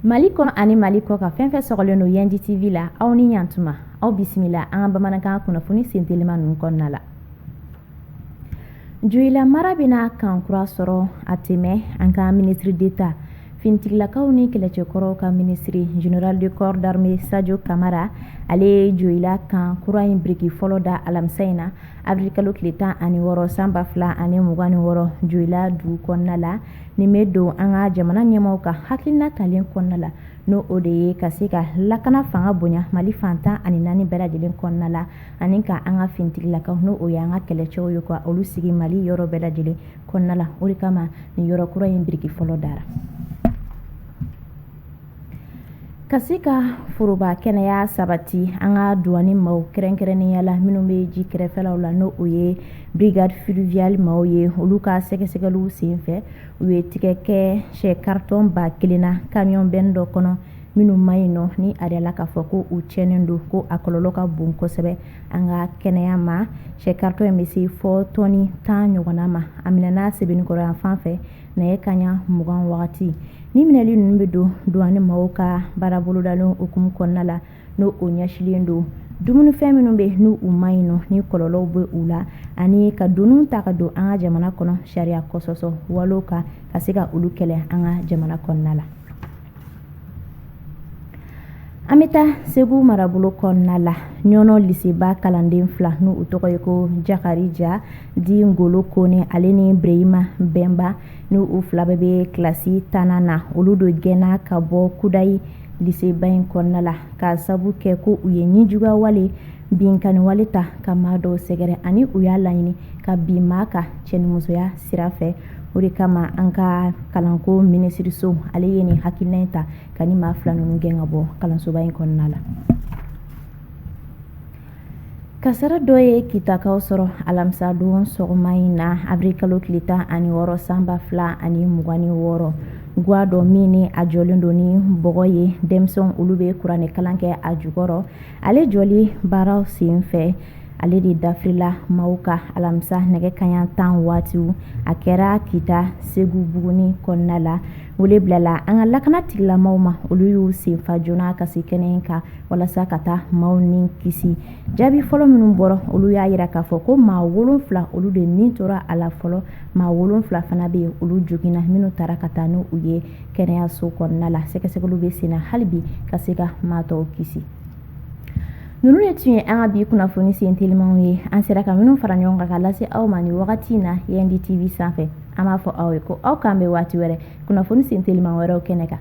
Mali kɔnɔ ani Mali kɔ kan fɛn fɛn sɔgɔlen don Yandi TV la aw ni ɲantuma aw bisimila an ka bamanankan kunnafoni sen telima ninnu kɔnɔna la Joyila mara bɛna kan kura sɔrɔ a tɛ mɛɛn an ka ministre d'Etat Finitigilakaw ni kɛlɛcɛkɔrɔw ka minisiri Général de corps d'armée Sajo Kamara, ale ye joyila kan kura in biriki fɔlɔ da alamisa in na, avril kalo tile 16 san 2026, joyila dugu kɔnɔna la. Nin bɛ don an ka jamana ɲɛmaaw ka hakilina talen kɔnɔna la, n'o o de ye ka se ka lakana fanga bonya Mali fan tan ani naani bɛɛ lajɛlen kɔnɔna la, ani ka an ka finitigilakaw n'o o y'an ka kɛlɛcɛw ye, ka olu sigi Mali yɔrɔ bɛɛ lajɛlen. kɔnɔna la o de kama nin yɔrɔ kura in biriki fɔlɔ dara ka se ka foroba kɛnɛya sabati an ka duwani maaw kɛrɛnkɛrɛnnenya la minnu bɛ ji kɛrɛfɛlaw la n'o o ye brigade fluviale maaw ye olu ka sɛgɛsɛgɛliw senfɛ u ye tigɛ kɛ sɛ karitɔn ba kelen na kamiyɔn bɛn dɔ kɔnɔ minnu man ɲi nɔ ni a yirala k'a fɔ ko u tiɲɛnen don ko a kɔlɔlɔ ka bon kosɛbɛ an ka kɛnɛya ma sɛ karitɔn in bɛ se fɔ tɔni tan ɲɔgɔnna ma a minɛna Sebenikɔrɔ yan fan fɛ nɛgɛ kaɲa mugan wagati ni minɛli ninnu bɛ don duwani maaw ka baara bolodalen hukumu kɔnɔna la n'o o ɲɛsilen don dumunifɛn minnu bɛ n' u man ɲi nɔ ni kɔlɔlɔw bɛ u la ani ka doniw ta ka don an ka jamana kɔnɔ sariya kɔsɔsɔ walew kan ka se ka olu kɛlɛ an ka jamana kɔnɔna la an bɛ taa segu marabolo kɔnɔna la ɲɔnɔ liseba kalanden fila ni u tɔgɔ ye ko Jakarija dit Ngolo Kone ale ni bereyima bɛnba ni u fila bɛɛ bɛ kilasi tannan na olu de gɛnna ka bɔ kudayi liseba in kɔnɔna la k'a sabu kɛ ko u ye nijuguya wale binkanniwale ta ka maa dɔw sɛgɛrɛ ani u y'a laɲini ka bin maa kan cɛnimusoya sira fɛ o de kama an ka kalanko minisiriso ale ye nin hakilina in ta ka nin maa fila ninnu gɛn ka bɔ kalansoba in kɔnɔna la kasara dɔ ye kitakaw sɔrɔ alamisa don sɔgɔma in na abiri kalo tile tan ani wɔɔrɔ san ba fila ani mugan ni wɔɔrɔ gwa dɔ min ni a jɔlen don ni bɔgɔ ye denmisɛnw olu bɛ kuranɛkalan kɛ a jukɔrɔ ale jɔli baaraw sen fɛ ale de dafirila maaw kan alamisa nɛgɛ kaɲa tan waatiw a kɛra kita Segubuguni kɔnɔna la wele bilala an ka lakana tigilamaw ma olu y'u senfa joona ka se kɛnɛ kan walasa ka taa maaw ni kisi jaabi fɔlɔ minnu bɔra olu y'a jira k'a fɔ ko maa wolonfila olu de nin tora a la fɔlɔ maa wolonfila fana bɛ yen olu joginna minnu taara ka taa n' u ye kɛnɛyaso kɔnɔna la sɛgɛsɛgɛliw bɛ sen na hali bi ka se ka maa tɔw kisi ninnu de tun ye an ka bi kunnafoni sen telimanw ye an sera ka minnu fara ɲɔgɔn kan ka lase aw ma nin wagati in na yandi tv sanfɛ an b'a fɔ aw ye ko aw k'an bɛ waati wɛrɛ kunnafoni sen teliman wɛrɛw kɛnɛ kan